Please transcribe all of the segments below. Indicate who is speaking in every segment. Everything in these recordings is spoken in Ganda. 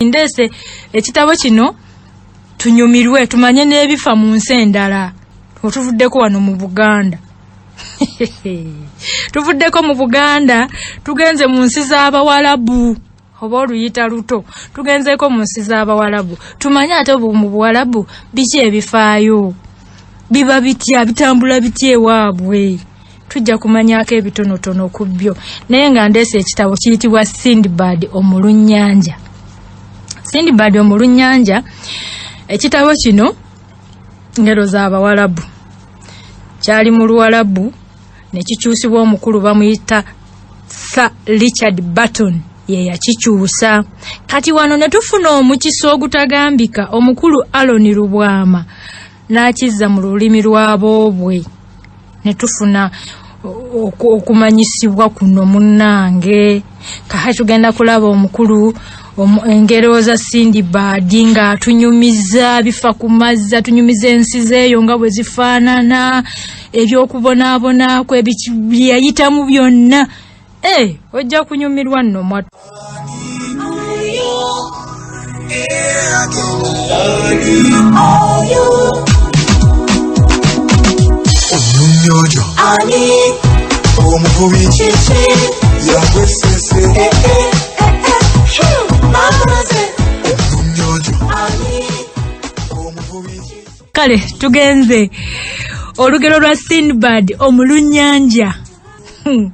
Speaker 1: ndeese ekitabo kino tunyumirwe tumanye n'ebifa mu nsi endala otuvuddeko wano mu buganda tuvuddeko mu buganda tugenze mu nsi z'abawalabu oba oluyita luto tugenzeeko mu nsi z'abawalabu tumanye ate mu buwalabu biki ebifaayo biba bitya bitambula bitya ewaabwe tujja kumanyaako ebitonotono ku byo naye nga ndeesa ekitabo kiyitibwa sindbad omulunyanja sindbad omulunyanja ekitabo kino ngero z'abawalabu kyali mu luwalabu ne kikyusibwa omukulu bamuyita sa richard barton ye yakikyusa kati wano ne tufuna omukisa ogutagambika omukulu aloni lubwama n'akizza mu lulimi lwaboobwe ne tufuna okumanyisibwa kuno munnange kaha tugenda kulaba omukulu engerewo za sindi baadi nga atunyumiza bifa ku mazzi atunyumiza ensi zeeyo nga bwe zifaanana ebyokubonaabonakwe byeyayitamu byonna Hey, eh, ojja kunyumirwa nno mwatu.
Speaker 2: Omunyonyo ani omuvubi kiki yagwesese eh, eh.
Speaker 1: kale tugenze olugero lwa sinbad omulunyanja Hmm.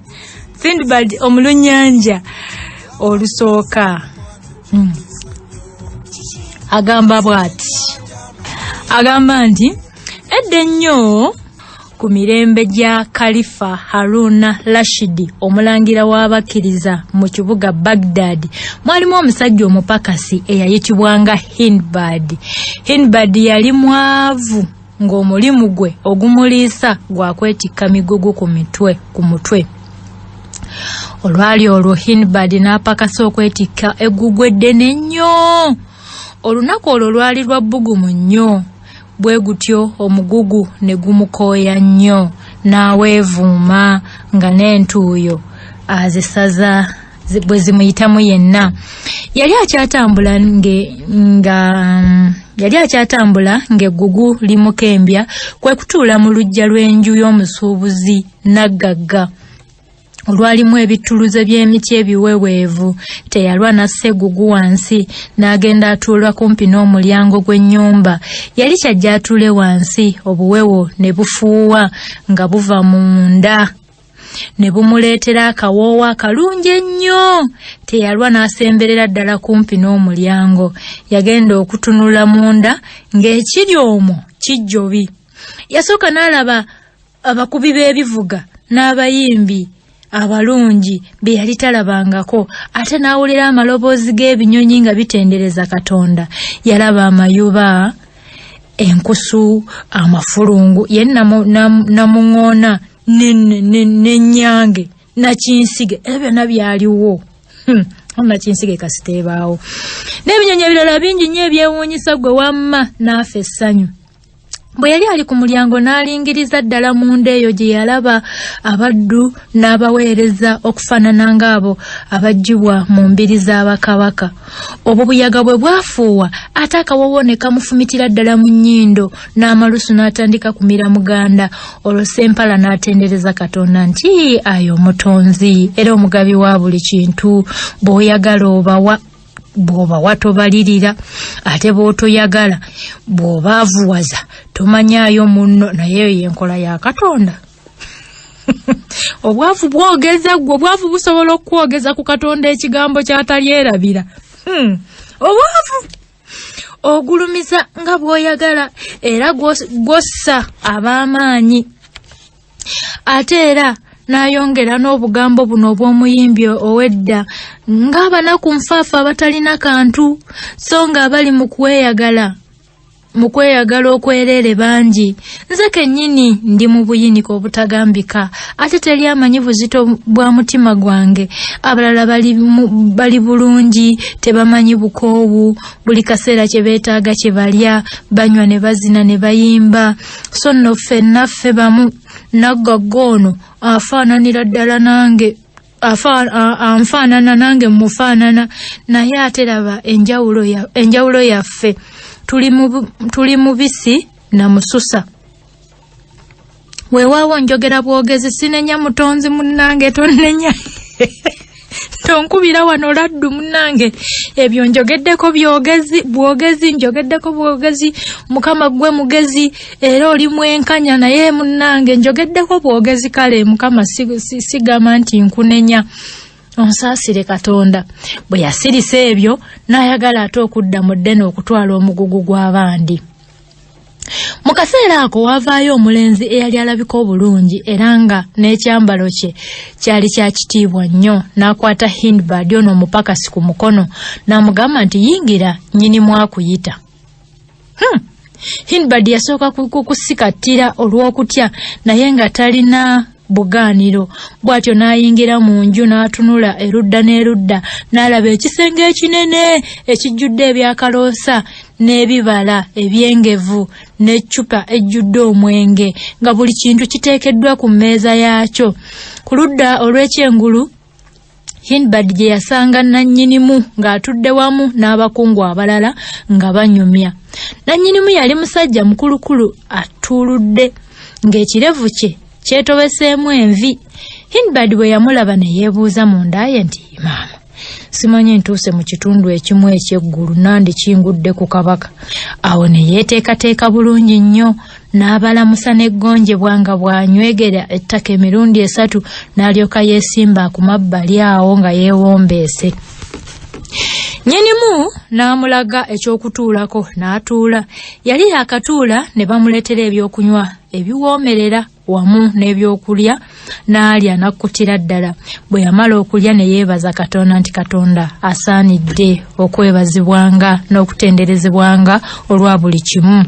Speaker 1: sindbad omulunyanja olusooka hmm. agamba bwati agamba nti edda ennyo ku mirembe gya kalifa haruna rashidi omulangira w'abakkiriza mu kibuga bagdad mwalimu omusajja omupakasi eyayitibwanga hinbad hinbad yali mwavu ng'omulimu gwe ogumuliisa gwa kwetikka migugu ku mitwe ku mutwe olwali olwo hinbad n'apakasa okwetikka eggugu eddene nnyo olunaku olwo lwali lwa bbugumu nnyo bwe gutyo omugugu ne gumukooya nnyo n'aweevuuma nga n'entuuyo azisaza bwe zimuyitamu yenna yali akyatambula nge nga um, yali akyatambula ng'eggugu limukembya kwe kutuula mu luggya lw'enju y'omusuubuzi naggagga olwalimu ebittuluze by'emiti ebiweweevu teyalwa n'assa egugu wansi n'agenda atuula kumpi n'omulyango gw'ennyumba yali kyajja atuule wansi obuwewo ne bufuuwa nga buva mu nda ne bumuleetera akawoowo akalungi ennyo teyalwa n'asemberera ddala kumpi n'omulyango yagenda okutunula munda ng'ekiri omwo kijjobi yasooka n'alaba abakubi b'ebivuga n'abayimbi abalungi be yali talabangako ate n'awulira amaloboozi g'ebinyonyi nga bitendereza katonda yalaba amayuba enkusu amafulungu ye namuŋoona na, na nenyange ne, ne, nakinsige era byonna byaliwo hmm. nakinsige kasiteebaawo n'ebinyonyi ebirala bingi nnyo ebyewuunyisa gwe wamma naafa essanyu bwe yali ali ku mulyango n'alingiriza ddala munda eyo gye yalaba abaddu n'abaweereza okufaanana ng'abo abaggyibwa mu mbiri za bakabaka obwo buyaga bwe bwafuuwa ate akawoowo ne kamufumitira ddala mu nnyindo n'amalusu n'atandika kumira muganda olwo sempala n'atendereza katonda nti ayo omutonzi era omugabi wa buli kintu bw'oyagala obawa bw'oba watobalirira ate bw'otoyagala bw'oba avuwaza tomanyaayo munno naye eyo y'enkola ya katonda obwavu bwogeza ggwe obwavu busobola okukwogeza ku katonda ekigambo ky'atalyerabira hmm. obwavu ogulumiza nga bw'oyagala era gw'ossa ab'amaanyi ate era n'ayongera n'obugambo buno obw'omuyimbi ow'edda ng'abanaku nfaafa abatalina kantu so ng'abali mu kweyagala mu kweyagala okwereere bangi nze kennyini ndi mu buyinike obutagambika ate teri amanyi buzito bwa mutima gwange abalala bali, mu, bali bulungi tebamanyi bukoowu buli kaseera kye beetaaga kye balya banywa ne bazina ne bayimba so nno ffenna ffe bamu naggagga ono afaananira ddala nange anfaanana nange mufaanana naye ate laba enjawulo yaffe tuli mubisi namususa weewaawo njogera bwogezi sinenya mutonzi munnange tonnenya tonkubira wano laddu munnange ebyo njogeddeko byogezi bwogezi njogeddeko bwogezi mukama gwe mugezi era oli mwenkanya naye munnange njogeddeko bwogezi kale mukama sigamba nti nkunenya onsaasire katonda bwe yasirisa ebyo n'ayagala ate okudda mu ddene okutwala omugugu gw'abandi mu kaseera ako waavaayo omulenzi eyali alabika obulungi era nga n'ekyambalo kye kyali kya kitiibwa nnyo n'akwata hindbad ono omupakasi ku mukono n'amugamba nti yingira nnyini mwakuyita hmm. hindbad yasooka kukusikattira olw'okutya naye nga talina bugaaniro bw'atyo n'ayingira mu nju n'atunula erudda n'erudda n'alaba ekisenge ekinene ekijjudde ebyakaloosa n'ebibala ebyengevu n'eccupa ejjudde omwenge nga buli kintu kiteekeddwa ku mmeeza yaakyo ku ludda olw'ekyengulu Hinbad gye yasanga nannyinimu ng'atudde wamu n'abakungu abalala nga banyumya. Nannyinimu yali musajja mukulukulu atuuludde ng'ekirevu kye kyetobeseemu envi. Hinbad bwe yamulaba ne yeebuuza munda ye nti maama simanyi ntuuse mu kitundu ekimu eky'eggulu nandi kingudde ku kabaka awo ne yeeteekateeka bulungi nnyo n'abalamusa n'eggonjebwa nga bw'anywegera ettaka emirundi esatu n'alyoka yeesimba ku mabbali awo nga yeewombeese nyinimu n'amulaga eky'okutuulako n'atuula yali yaakatuula ne bamuleetera ebyokunywa ebiwoomerera wamu n'ebyokulya n'alya n'akkutira ddala bwe yamala okulya ne yeebaza katonda nti katonda asaanidde okwebazibwanga n'okutenderezebwanga olwa buli kimu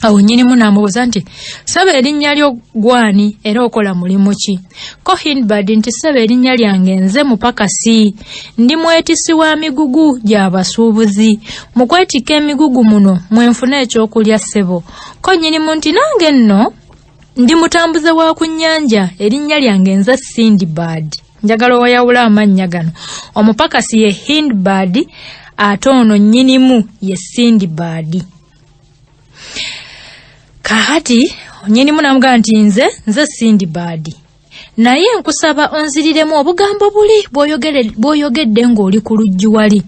Speaker 1: awo nyinimu n'amubuuza nti saba erinnya lyo gwani era okola mulimu ki ko hinbad nti saba erinnya lyange nze mupakasi ndi mwetisi wa migugu gya basuubuzi mu kwetikka emigugu muno mwe nfuna ekyokulya ssebo ko nyinimu nti nange nno ndi mutambuze wa ku nnyanja erinnya lyange nze sindibad njagala owayawula amannya gano omupakasi ye hindbad ate ono nyinimu ye sindibadi kakati nyinimu namugamba nti nze nze sindi baadi naye nkusaba onziriremu obugambo buli bwoyogedde ng'oli ku luggi wali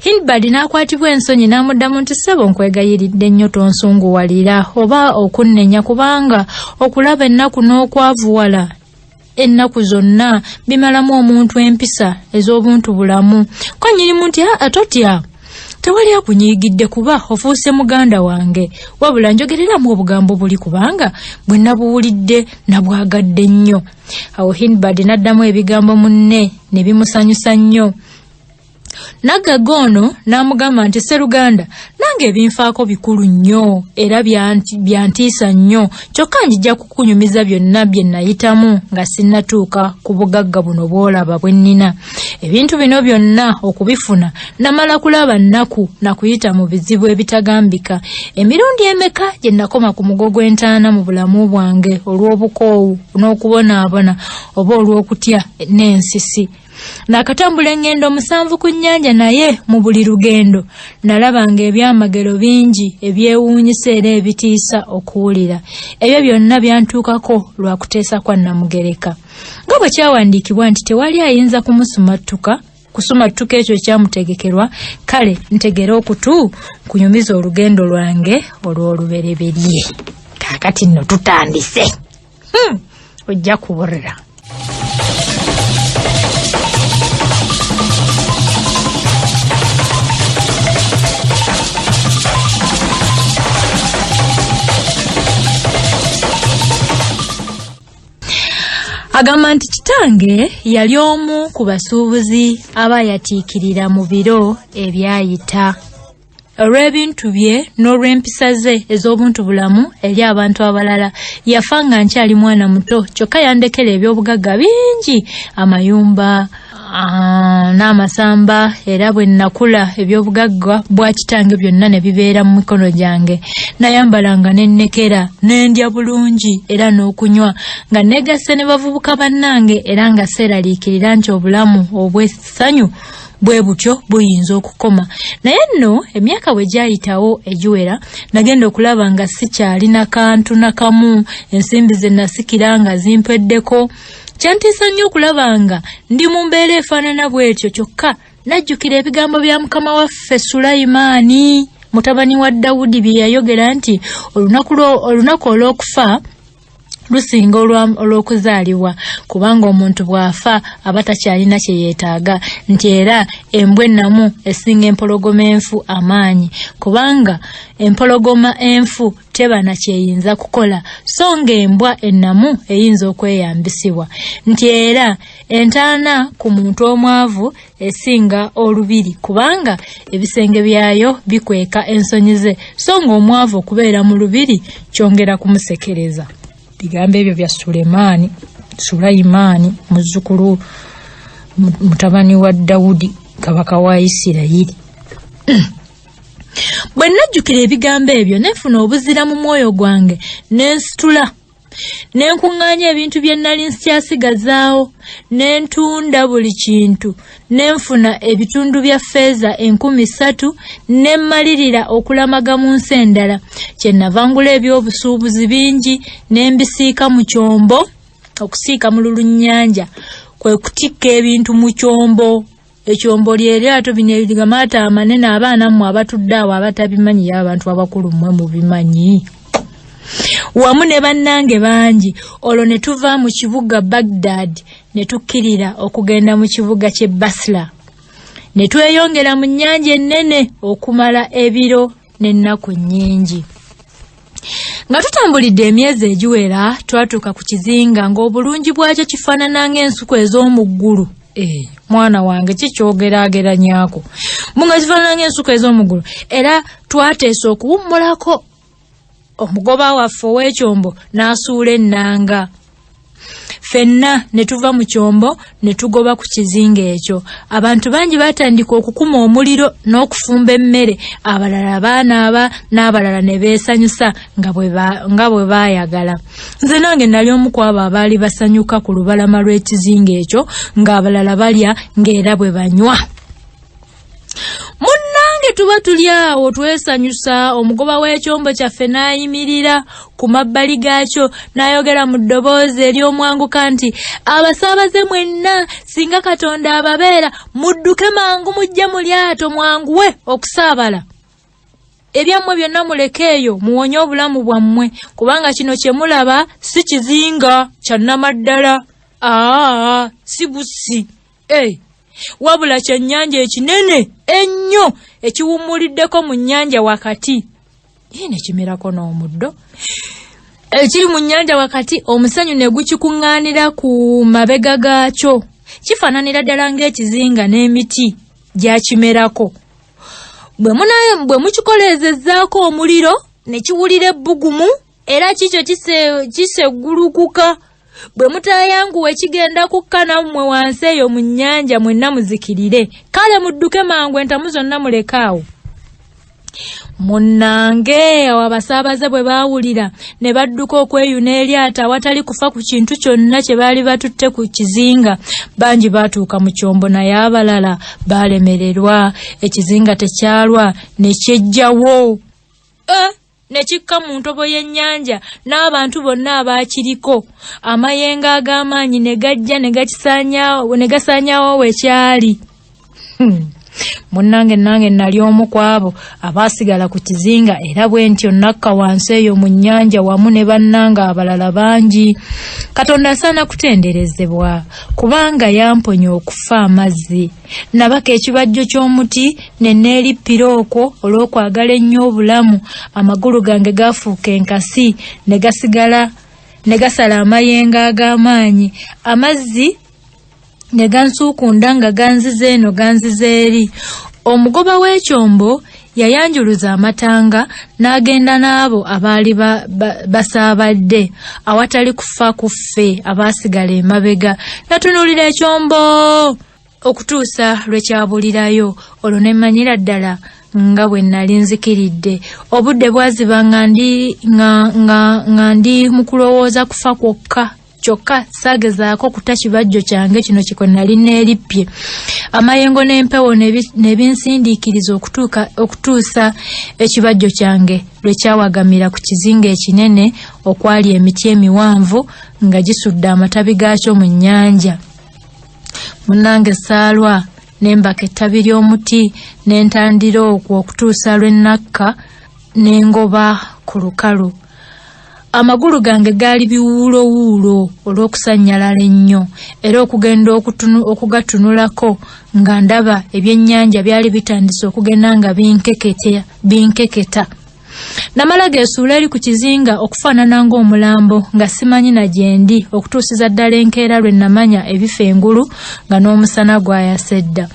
Speaker 1: hilbard n'akwatibwa ensonyi n'amuddamu nti ssebo nkwegayiridde nnyo tonsunguwalira oba okunnenya kubanga okulaba ennaku n'okwavuwala ennaku zonna bimalamu omuntu empisa ez'obuntu bulamu ko nyirimu nti aa ah, totya tewali akunyiigidde kuba ofuuse muganda wange wabula njogereramu obugambo buli kubanga bwe nabuwulidde nabwagadde nnyo awo hinbad n'addamu ebigambo munne ne bimusanyusa nnyo Naggagga ono n'amugamba nti Sseruganda nange ebinfaako bikulu nnyo era byantiisa nnyo kyokka njija kukunyumiza byonna bye nayitamu nga sinnatuuka ku bugagga buno bw'olaba bwe nnina ebintu bino byonna okubifuna namala kulaba nnaku na kuyita mu bizibu ebitagambika emirundi emeka gye nakoma ku mugo gw'entaana mu bulamu bwange olw'obukoowu n'okubonaabona oba olw'okutya n'ensisi Nakatambula engendo musanvu ku nnyanja naye mu buli lugendo nalabanga ebyamagero bingi ebyewuunyisa era ebitiisa okuwulira. Ebyo byonna byantuukako lwa kuteesa kwa Namugereka. Nga bwe kyawandiikibwa nti tewali ayinza kumusumattuka kusumattuka ekyo ekyamutegekerwa kale ntegere okutu kunyumiza olugendo lwange olw'olubereberye. Kaakati nno tutandise. hmm. ojja kuburira agamba nti kitange yali omu ku basuubuzi aba yatiikirira mu biro ebyayita olw'ebintu bye n'olw'empisa ze ez'obuntu bulamu eri abantu abalala yafa nga nkyali mwana muto kyokka yandekera eby'obugagga bingi amayumba ah, n'amasamba era bwe nnakula eby'obugagga bwa kitange byonna ne bibeera mu mikono gyange nayambalanga ne nnekera ne ndya bulungi era n'okunywa nga neegasse ne bavubuka bannange era nga seeraliikirira nti obulamu obw'essanyu bwe butyo buyinza okukoma naye nno emyaka bwe gyayitawo egiwera nagenda okulaba nga sikyalina kantu na kamu ensimbi ze nasikira nga zimpweddeko kyantiisa nnyo okulaba nga ndi mu mbeera efaanana bw'etyo kyokka najjukira ebigambo bya mukama waffe sulayimaani mutabani wa dawudi bye yayogera nti olunaku olw'okufa lusinga olw'okuzaalibwa kubanga omuntu bw'afa aba takyalina kye yeetaaga nti era embwa ennamu esinga empologoma enfu amaanyi kubanga empologoma enfu teba na kyeyinza kukola so ng'embwa ennamu eyinza okweyambisibwa nti era entaana ku muntu omwavu esinga olubiri kubanga ebisenge byayo bikweka ensonyi ze so ng'omwavu okubeera mu lubiri kyongera kumusekereza bigambo ebyo bya sulemaani sulayimaani muzzukulu mutabani wa dawudi kabaka wa isirayiri bwe nnajjukira ebigambo ebyo nefuna obuzira mu mwoyo gwange nensitula ne nkuŋŋaanya ebintu bye nnali nkyasigazaawo ne ntunda buli kintu ne nfuna ebitundu bya ffeeza enkumi ssatu ne mmalirira okulamaga mu nsi endala kye navangula ebyobusuubuzi bingi ne mbisiika mu kyombo okusiika mu lulunnyanja kwe kutikka ebintu mu kyombo ekyombo lyeryato bino ebigamata amanene abaana mmwe abatudde awo abatabimanyi ye abantu abakulu mmwe mubimanyi wamu ne bannange bangi olwo ne tuva mu kibuga bagdad ne tukkirira okugenda mu kibuga ky'e basla ne tweyongera mu nnyanja ennene okumala ebiro n'ennaku nnyingi nga tutambulidde emyezi egiwera twatuuka ku kizinga ng'obulungi bwakyo kifaanana ng'ensuku ez'omu ggulu eh, mwana wange kikyogerageranyako mbu nga zifaanana ng'ensuku ez'omu ggulu era twateesa okuwummulako omugoba waffe ow'ekyombo n'asuula ennanga ffenna ne tuva mu kyombo ne tugoba ku kizinga ekyo abantu bangi baatandika okukuma omuliro n'okufumba emmere abalala baanaaba n'abalala ne beesanyusa nga bwe baayagala nze nange nali omu ku abo abaali basanyuka ku lubalama lw'ekizinga ekyo ng'abalala balya ng'era bwe banywa munnange tuba tuli awo twesanyusa omugoba w'ekyombo kyaffe n'ayimirira ku mabbali gaakyo n'ayogera mu ddoboozi ery'omwanguka nti abasaabaze mwenna singa katonda ababeera mudduke mangu mujje mu lyato mwanguwe okusaabala ebyammwe byonna muleke eyo muwonye obulamu bwammwe kubanga kino kye mulaba si kizinga kya nnamaddala aa si bussi Hey. Eh, wabula kyennyanja ekinene ennyo ekiwummuliddeko mu nnyanja wakati ye ne kimerako n'omuddo ekiri mu nnyanja wakati omusenyu ne gukikuŋŋaanira ku mabega gaakyo kifaananira ddala ng'ekizinga n'emiti gyakimerako bwe munaye bwe mukikoleezezzaako omuliro ne kiwulira ebbugumu era kikyo kiseggulukuka kise bwe mutaayanguwa ekigenda kukka nammwe wansi eyo mu nnyanja mwenna muzikirire kale mudduke mangu entamu zonna mulekaawo munnange awo abasaabaze bwe baawulira ne badduka okweyuna eryato awatali kufa ku kintu kyonna kye baali batutte ku kizinga bangi baatuuka mu kyombo naye abalala baalemererwa ekizinga tekyalwa ne kyejjawo eh? ne kikka mu ntobo y'ennyanja n'abantu bonna abaakiriko amayengo ag'amaanyi ne gajja ne gasaanyaawo we kyali hmm. munnange nange nali omu ku abo abaasigala ku kizinga era bwe ntyo nakka wansi eyo mu nnyanja wamu ne bannanga abalala bangi katonda asaana kutenderezebwa kubanga yamponya okufa amazzi Nabaka ekibajjo ky'omuti ne neerippira okwo olw'okwagala ennyo obulamu, amagulu gange gaafuuka enkasi ne gasigala ne gasala amayengo ag'amaanyi, amazzi ne gansuukunda nga ganziza eno ganziza eri. Omugoba w'ekyombo yayanjuluza amatanga n'agenda n'abo abaali basaabadde awatali kufa ku ffe abaasigala emabega. Natunuulira ekyombo! okutuusa lwe kyabulirayo olwo ne mmanyira ddala nga bwe nali nzikiridde obudde bwaziba nga ndi nga nga nga ndi mu kulowooza kufa kwokka kyokka saagezaako kuta kibajjo kyange kino kikwe nali neerippye amayengo n'empewo ne binsindiikiriza okutuuka okutuusa ekibajjo kyange lwe kyawagamira ku kizinga ekinene okwali emiti emiwanvu nga gisudde amatabi gaakyo mu nnyanja munange saalwa nembaka ettabi ly'omuti ne ntandira okwo okutuusa lwe nnakka ne ngoba ku lukalu amagulu gange gaali biwuulowuulo olw'okusannyalala ennyo era okugenda okugatunulako nga ndaba ebyennyanja byali bitandise okugenda nga binkeketa namala geesuula eri ku kizinga okufaanana ng'omulambo nga simanyi na gyendi okutuusiza ddala enkeera lwe namanya ebifa engulu nga n'omusana gwayasa edda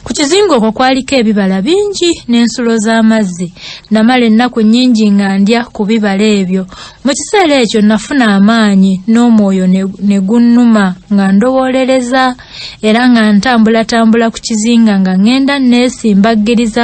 Speaker 1: ku kizinga okwo kwaliko ebibala bingi n'ensulo z'amazzi namala ennaku nnyingi nga ndya ku bibala ebyo mu kiseera ekyo nafuna amaanyi n'omwoyo ne gunnuma nga ndowoolereza era nga ntambulatambula ku kizinga nga ŋŋenda nneesimbaggiriza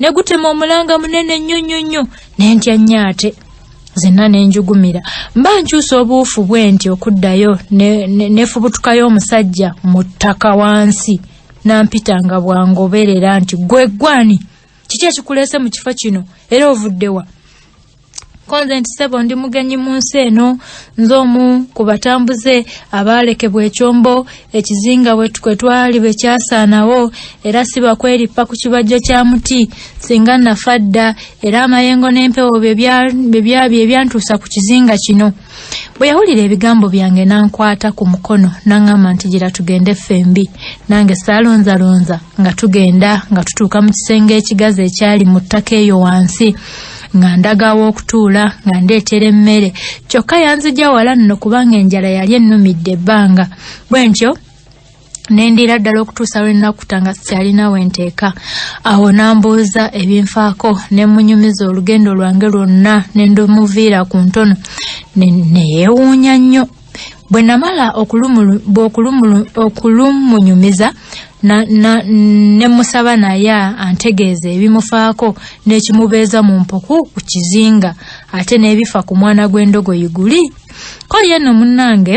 Speaker 1: ne gutema omulanga munene nnyo nnyo nnyo ne ntya nnyo ate zenna ne njugumira mba nkyusa obuufu bwe nti okuddayo nefubutukayo ne, ne omusajja mu ttaka wansi nampita nga bwangoberera nti gwe gwani kiki ekikuleese mu kifo kino era ovuddewa konze nti sebo ndi mugenyi mu nsi eno nze omu ku batambuze abaalekebwa ekyombo ekizinga kwe twali bwe kyasaanawo era si bakwerippa ku kibajjo kya muti singa nafa dda era amayengo n'empewo bye byantuusa ku kizinga kino bwe yawulira ebigambo byange n'ankwata ku mukono n'aŋŋamba nti gira tugende ffembi nange saalonzalonza nga tugenda nga tutuuka mu kisenge ekigazi ekyali mu ttaka eyo wansi nga ndaga aw'okutuula nga ndeetera emmere kyokka yanzija wala nno kubanga enjala yali ennumidde ebbanga bwe ntyo nendiira ddala okutuusa lwe nnakuta nga sikyalina we nteeka awo n'ambuuza ebinfaako ne mmunyumiza olugendo lwange lwonna ne ndumuviira ku ntono ne yeewuunya nnyo bwe namala okulumunyumiza ne musaba naye antegeeza ebimufaako n'ekimubeeza mu mpuku ku kizinga ate n'ebifa ku mwana gw'endogoyi guli ko yenno munnange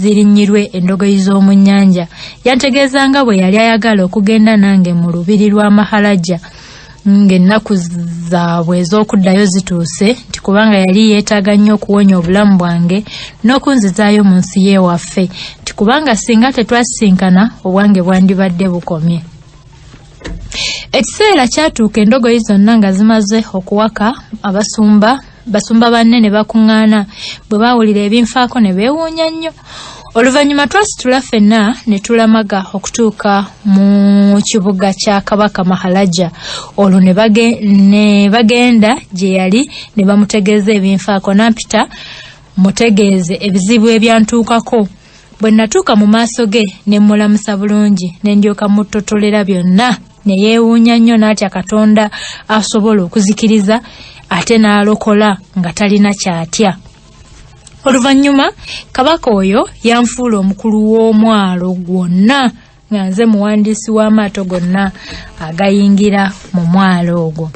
Speaker 1: zirinnyirwe endogoyi z'omu nnyanja yantegeeza nga bwe yali ayagala okugenda nange mu lubiri lwa mahalajja ng'ennaku zaabwe ez'okuddayo zituuse nti kubanga yali yeetaaga nnyo okuwonya obulamu bwange n'okunzizaayo mu nsi y'ewaffe nti kubanga singa tetwasisinkana obwange bwandibadde bukomye ekiseera kyatuuka endogoyi zonna nga zimaze okuwaka abasumba basumba banne ne bakuŋŋaana bwe baawulira ebinfaako ne beewuunya nnyo oluvannyuma twasitula ffenna ne tulamaga okutuuka mu kibuga kya kabaka mahalaja olwo ne bagenda gye yali ne bamutegeeza ebinfaako nampita mutegeeze ebizibu ebyantuukako bwe natuuka mu maaso ge ne mmulamusa bulungi ne ndyoka muttotolera byonna ne yeewuunya nnyo n'atya katonda asobola okuzikiriza ate n'alokola nga talina kyatya oluvannyuma kabaka oyo yanfuula omukulu w'omwalo gwonna nga nze muwandiisi w'amaato gonna agayingira mu mwalo ogwo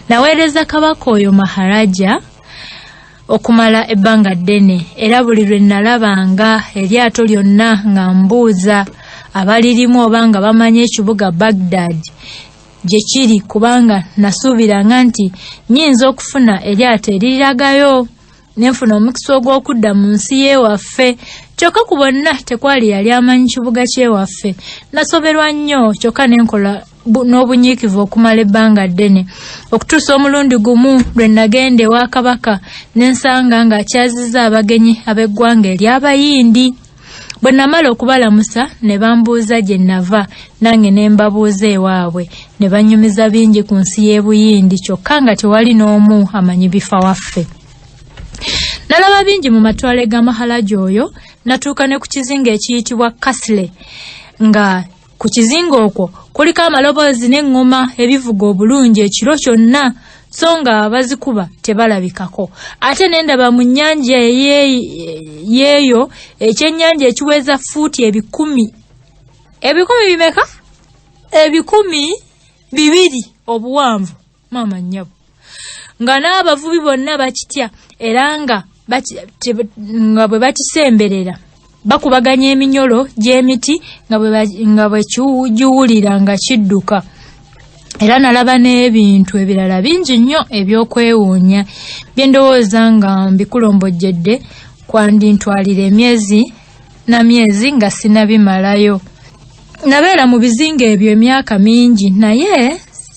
Speaker 1: naweereza kabaka oyo maharaja okumala ebbanga ddene era buli lwe nnalabanga eryato lyonna nga mbuuza abalirimu oba nga bamanyi ekibuga bagdad gye kiri kubanga nasuubiranga nti nyinza okufuna eryato eriragayo ne nfuna omukisa ogw'okudda mu nsi y'ewaffe kyokka ku bonna tekwali yali amanyi kibuga ky'ewaffe nasoberwa nnyo kyokka ne nkola n'obunyiikivu okumala ebbanga ddene okutuusa omulundi gumu lwe nagenda ewa kabaka ne nsanga ng'akyazizza abagenyi ab'eggwanga ery'abayindi bwe namala okubalamusa ne bambuuza gye nava nange ne mbabuuza ewaabwe ne bannyumiza bingi ku nsi y'e buyindi kyokka nga tewali n'omu amanyi bifa waffe nalaba bingi mu matwale ga mahalaji oyo natuuka ne ku kizinga ekiyitibwa kasle nga Ku kizinga okwo kuliko amaloboozi n'eŋŋoma ebivuga obulungi ekiro kyonna so nga bazikuba tebalabikako ate nendaba mu nnyanja yeeyo ekyennyanja ekiweza fuuti ebikumi ebikumi bimeka ebikumi bibiri obuwanvu maama nnyabo nga n'abavubi bonna bakitya era nga nga bwe bakisemberera bakubaganya eminyolo gy'emiti nga bwe kiwulira nga kidduka era nalaba n'ebintu ebirala bingi nnyo ebyokwewuunya bye ndowooza nga mbikulombojjedde kwandintwalira emyezi na myezi nga sinabimalayo nabeera mu bizinga ebyo emyaka mingi naye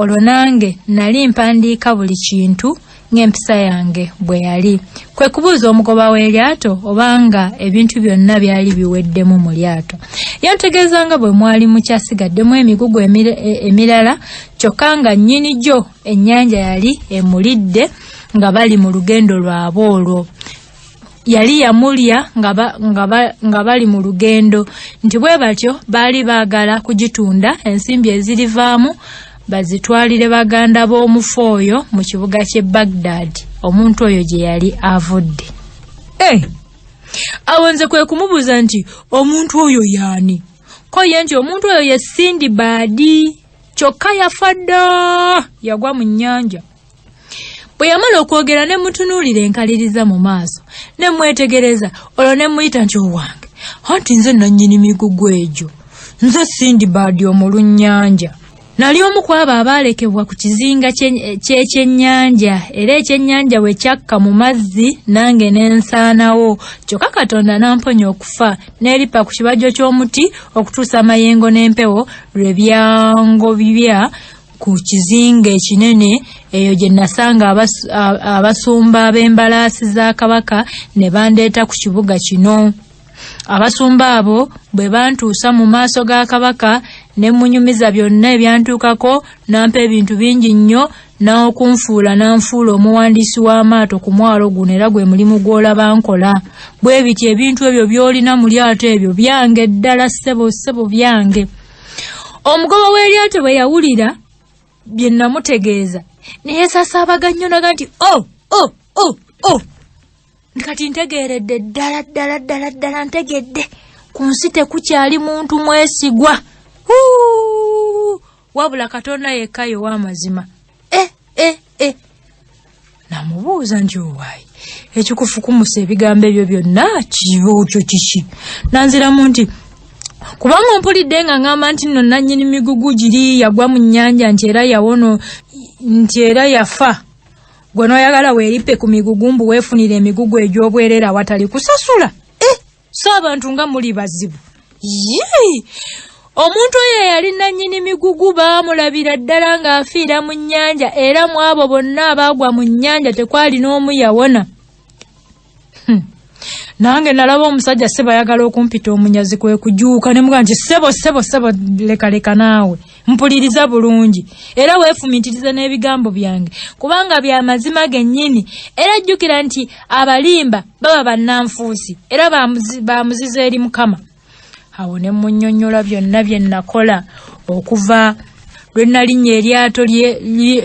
Speaker 1: olwo nange nali mpandiika buli kintu ng'empisa yange bwe yali kwe kubuuza omugoba w'eryato obanga ebintu byonna byali biweddemu mu lyato yantegeeza nga bwe mwali mukyasigaddemu emigugu e, emirala kyokka nga nnyini gyo ennyanja yali emulidde nga bali mu lugendo lwabwe olwo yali yamulya nga bali mu lugendo nti bwe batyo baali baagala kugitunda ensimbi ezirivaamu bazitwalire baganda b'omufu oyo mu kibuga ky'e bagdad omuntu oyo gye yali avudde eh! awo nze kwe kumubuuza nti omuntu oyo yaani ko ye nti omuntu oyo ye sindi baadi kyokka yafa dda yagwa mu nnyanja bwe yamala okwogera ne mutunuulira enkaliriza mu maaso ne mwetegereza olwo ne muyita nti owange anti nze nannyini migugu egyo nze sindi baadi omulunnyanja nali omu ku abo abaalekebwa ku kizinga ky'ekyennyanja era ekyennyanja bwe kyakka mu mazzi nange ne nsaanawo kyokka katonda n'amponya okufa n'eripa ku kibajjo ky'omuti okutuusa amayengo n'empewo lwe byangobibya ku kizinga ekinene eyo gye nasanga abasumba b'embalaasi za kabaka ne bandeeta ku kibuga kino abasumba abo bwe bantuusa mu maaso ga kabaka ne munyumiza byonna ebyantuukako nampa ebintu bingi nnyo n'okunfuula n'anfuula omuwandiisi w'amaato ku mwalo guno era gwe mulimu gw'olaba nkola bwe biti ebintu ebyo by'olina mu lyato ebyo byange ddala ssebo ssebo byange omugoba w'eryato bwe yawulira bye namutegeeza ne yeesasaabaga nnyo naga nti o oh, o oh, o oh, o kati ntegeeredde ddala ddala ddala ddala ntegedde ku nsi tekukyali muntu mwesigwa wabula katonda yekka yow'amazima eh, eh, eh. namubuuza nti owaayi ekikufukumusa ebigambo ebyo byonna kiyookyo kiki nanziramu nti kubanga mpulidde nga ngamba nti nno nannyini migugu giri yagwa mu nnyanja nti era yawono nti era yafa gwe noyagala weerippe ku migugu mbu weefunire emigugu egy'obwerera awatali kusasula so abantu nga muli bazibu yii omuntu oyo eyali nannyini migugu baamulabira ddala ng'afiira mu nnyanja era mu abo bonna abaagwa mu nnyanja tekwali n'omu yawona hmm. nange nalaba omusajja sebo ayagala okumpita omunyazi kwe kujuuka ne muga nti sebo sebo sebo lekaleka naawe mpuliriza bulungi era weefumiitirize n'ebigambo byange kubanga bya mazima gennyini era jjukira nti abalimba baba bannanfuusi era ba muzizo eri mukama awo ne mmunnyonnyola byonna bye nnakola okuva lwe nnalinnya eryato lye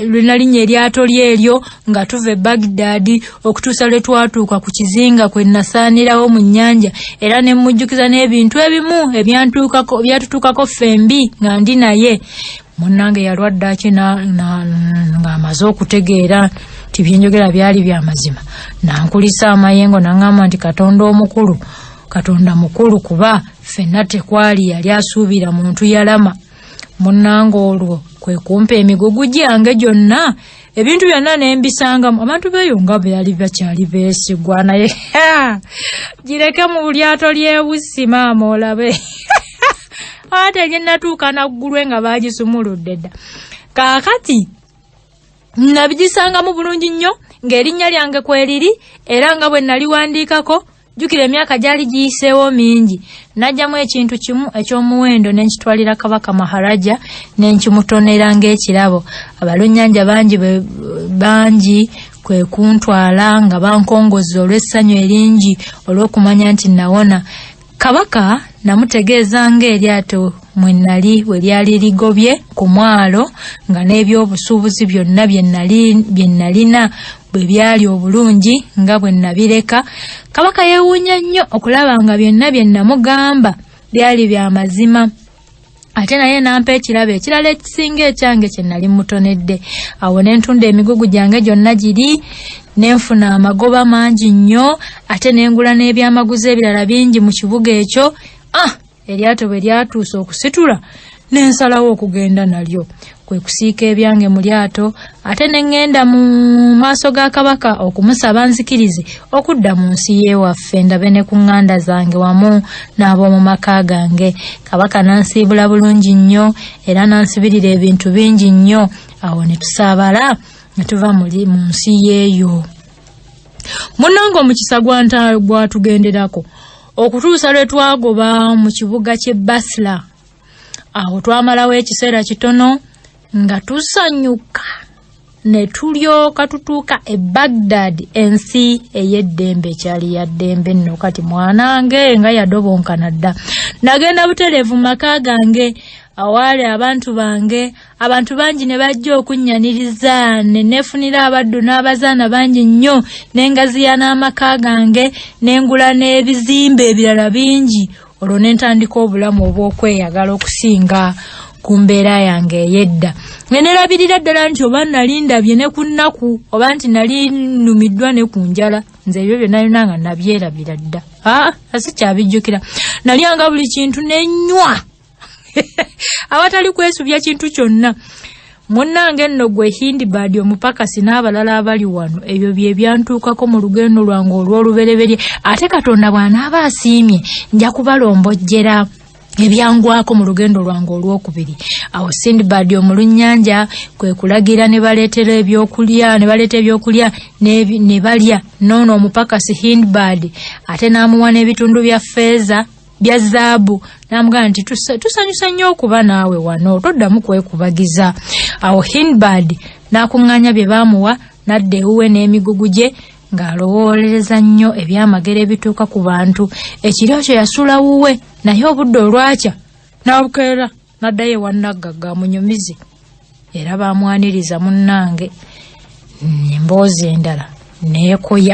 Speaker 1: lwe nnalinnya eryato lye eryo nga tuva e bagdaadi okutuusa lwe twatuuka ku kizinga kwe nasaanirawo mu nnyanja era ne mmujjukiza n'ebintu ebimu ebyantuukako byatutuukako ffembi nga ndi naye munnange yalwadde aki ng'amaze okutegeera nti byenjogera byali bya mazima nankulisa amayengo naŋŋamba nti katonda omukulu katonda mukulu kuba ffenna tekwali yali asuubira muntu yalama munnange olwo kwe kumpa emigugu gyange gyonna ebintu byonna nembisangamu abantu beeyo nga beyali bakyali beesigwa naye gireke mu lyato ly'ebussi maama olabe ate nyenatuuka naggulwe nga baagisumuludde dda kaakati nabigisangamu bulungi nnyo ng'erinnya lyange kweriri era nga bwe naliwandiikako jjukira emyaka gyali giyiseewo mingi n'ajjamu ekintu kimu eky'omuwendo ne nkitwalira kabaka maharaja ne nkimutonera ng'ekirabo abalunnyanja bangi bangi kwe kuntwala nga bankongozza olw'essanyu eringi olw'okumanya nti nawona kabaka namutegeeza ng'eryato mwe nali bwe lyali ligobye ku mwalo nga n'eby'obusuubuzi byonna bye nnalina bwe byali obulungi nga bwe nnabireka kabaka yeewuunya nnyo okulaba nga byonna bye nnamugamba byali bya mazima ate naye nampa ekirabo ekirala ekisinga ekyange kye nali mutonedde awo ne ntunda emigugu gyange gyonna giri ne nfuna amagoba mangi nnyo ate ne ngula n'ebyamaguzi ebirala bingi mu kibuga ekyo ah eryato bwe lyatuuse okusitula ne nsalawo okugenda nalyo kwe kusiika ebyange mu lyato ate ne ŋŋenda mu maaso ga kabaka okumusaba nzikirize okudda mu nsi y'ewaffe ndabe ne ku ŋŋanda zange wamu n'ab'omu maka gange kabaka n'ansiibula bulungi nnyo era n'ansibirira ebintu bingi nnyo awo ne tusaabala ne tuva mu nsi y'eyo munnange omukisa gwatugenderako okutuusa lwe twagoba mu kibuga ky'e basla awo twamalawo ekiseera kitono nga tusanyuka ne tulyoka tutuuka e bagdad ensi ey'eddembe ekyali ya ddembe nno kati mwanange nga yadobonkana dda nagenda butereevu mu maka gange awaali abantu bange abantu bangi ne bajja okunnyaniriza ne neefunira abaddu n'abazaana bangi nnyo n'engaziya n'amaka gange n'engula n'ebizimbe ebirala bingi olwo ne ntandika obulamu obw'okweyagala okusinga ku mbeera yange ey'edda nga nerabirira ddala nti oba nali ndabye ne ku nnaku oba nti nali nnumiddwa ne ku njala nze ebyo byonna byona nga nabyerabira dda aa ah, asikyabijjukira nalyanga buli kintu nenywa awatali kwesubya kintu kyonna munnange nno gwe hindibadi omupakasi n'abalala abali wano ebyo bye byantuukako mu lugendo lwange olw'olubereberye ate katonda bw'anaaba asiimye nja kubalombojjera ebyangwako mu lugendo lwange olwokubiri awo sindbad omulunnyanja kwe kulagira ne baleetera ebyokulya ne baleeta ebyokulya ne balya noono omupakasi hindbad ate n'amuwa n'ebitundu bya feeza bya zaabu namugamba nti tusanyusa nnyo okuba naawe wano toddamu kwekubagiza awo hinbad n'akuŋŋaanya bye baamuwa n'adda ewuwe n'emigugu gye ng'alowoolereza nnyo ebyamagero ebituuka ku bantu ekiro kyo yasula wuwe naye obudde olwakya n'abukeera n'addayo ewannaggagga amunyumize era baamwaniriza munnange emboozi endala neekoya